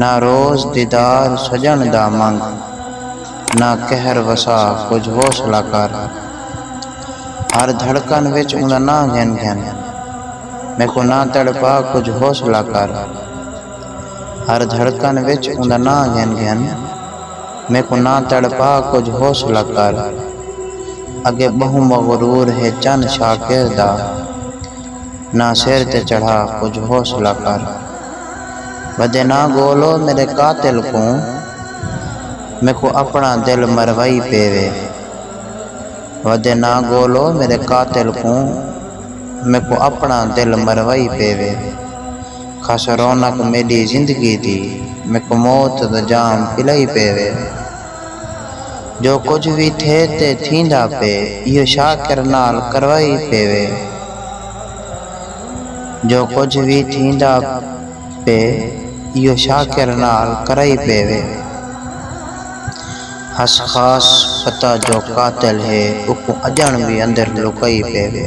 نہ روز دیدار سڄݨ دا منگ نہ قہر وسا کجھ حوصلہ کر ہر دھڑکن وچ اوندا ناں گھن گھن میکوں نہ تڑپا کجھ حوصلہ کر ہر دھڑکن وچ اوندا ناں گھن گھن میکوں نہ تڑپا کجھ حوصلہ کر اگے ٻہوں مغرور ہے چن شاکر دا۔ نہ سر تے چڑھا کجھ حوصلہ کر ودے نہ گولو میڈے قاتل کوں میکوں اپنا دل مروئی پے وے ودے نہ گولو میڈے قاتل کوں میکوں اپنا دل مروئی پے وے کھس رونق میڈی زندگی دی میکوں موت دا جام پلائی پے وے۔ جو کجھ وی تھئے تے تھیندا پئے ایہو شاکر نال کروائی پیوے۔ جو کجھ وی تھیندا پئے ایہو شاکر نال کرائی پیوے۔ ہس خاص پتہ جو قاتل ہے اوکوں اڄݨ وی اندر لکائی پیوے۔